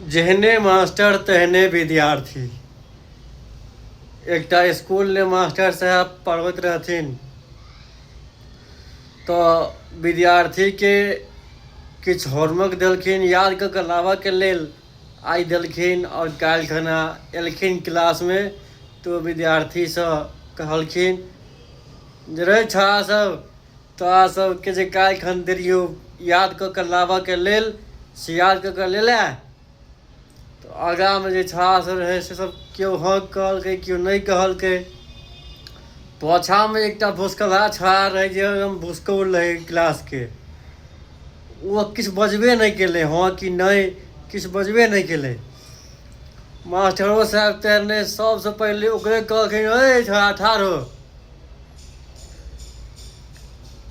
जेहने मास्टर तेहने विद्यार्थी एकटा स्कूल ने मास्टर साहब पढ़बैत रहथिन तऽ विद्यार्थीके किछु होमवर्क देलखिन याद कऽ कऽ लाबऽके लेल आइ देलखिन आओर काल्हि खना एलखिन क्लासमे तऽ विद्यार्थीसँ कहलखिन जे रे छौड़ा सब तऽ अहाँ सबके जे काल्हि खन देलियौ याद कऽ कऽ लाबऽके लेल से याद कऽ कऽ लेला तऽ आगाँमे जे छौड़ा सब रहै से सब केओ हँ कहलकै केओ नहि कहलकै पाछाँमे एकटा भुसकला छौड़ा रहै जे एकदम भुसकौल रहै क्लासके ओ किछु बजबे नहि केलै हँ कि नहि किछु बजबे नहि केलै मास्टरो साहब तेहने सबसँ पहिले ओकरे कहलखिन रे छौड़ा ठाढ़ हो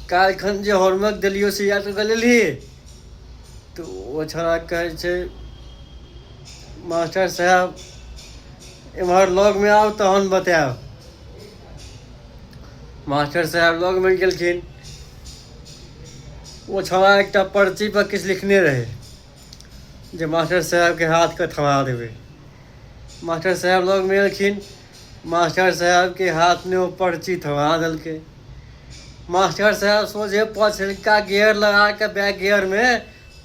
काल्हिखन जे हॉर्मक देलियो से याद कऽ लेलही तऽ ओ छोड़ा कहै छै मास्टर साहब एम्हर लगमे आउ तहन बतायब मास्टर साहब लगमे गेलखिन ओ छोड़ा एकटा पर्ची पर किछु लिखने रहै जे मास्टर साहबके हाथके थमा देबै मास्टर साहब लगमे एलखिन मास्टर साहेबके हाथमे ओ पर्ची थमा देलकै मास्टर साहेब सोझे पछिलका गेयर लगा कऽ बैक गेयरमे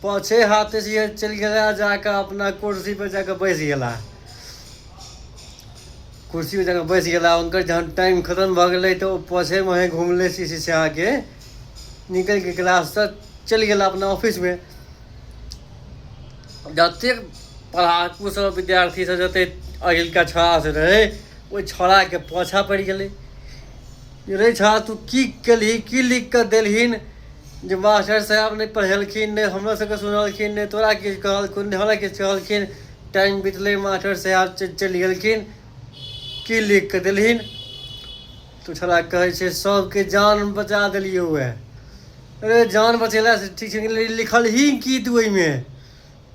पाछे हाथे से चलि गेला जा कऽ अपना कुर्सी पर जा कऽ बैस गेला कुर्सी पर जा कऽ बैस गेला हुनकर जहन टाइम खतम भऽ गेलै तऽ ओ पाछे मुहे घुमले शीशी से आके निकलि कऽ क्लाससँ चलि गेला अपना ऑफिसमे जतेक पढ़ाकू सब विद्यार्थी सब जते अहिलका छड़ा से रहे ओहि छड़ा के पाछा पड़ि गेलै रे छड़ा तू की केलही की लिख कऽ देलहिन जे मास्टर साहब नहि पढ़ेलखिन नहि हमरा सबके सुनलखिन नहि तोरा किछु कहलखिन नहि हमरा किछु कहलखिन टाइम बितलै मास्टर साहब चलि गेलखिन की लिख कऽ देलहिन तू छड़ा कहै छै सबके जान बचा देलियै उएह अरे जान बचेला से ठीक छै लिखल ही की तू ओहिमे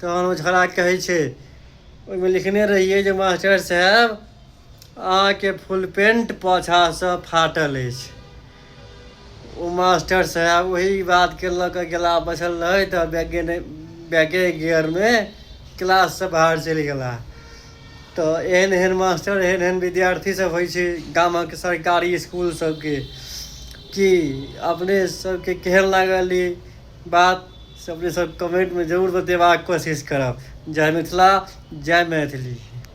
तहन ओ झगड़ा कहै छै ओहिमे लिखने रहियै जे मास्टर साहेब अहाँके फुल पेंट पाछासँ फाटल अछि ओ मास्टर साहेब ओही बातके लऽ कऽ गेला बचल रहै तऽ बैगे बैगे गियरमे क्लाससँ बाहर चलि गेला तऽ एहन एहन मास्टर एहन एहन विद्यार्थी सब होइ छै गामक सरकारी इसकुल सबके कि अपने सबके केहन लागल ई बात से अपने सब कमेन्टमे जरूर बतेबाक कोशिश करब जय मिथिला जय मैथिली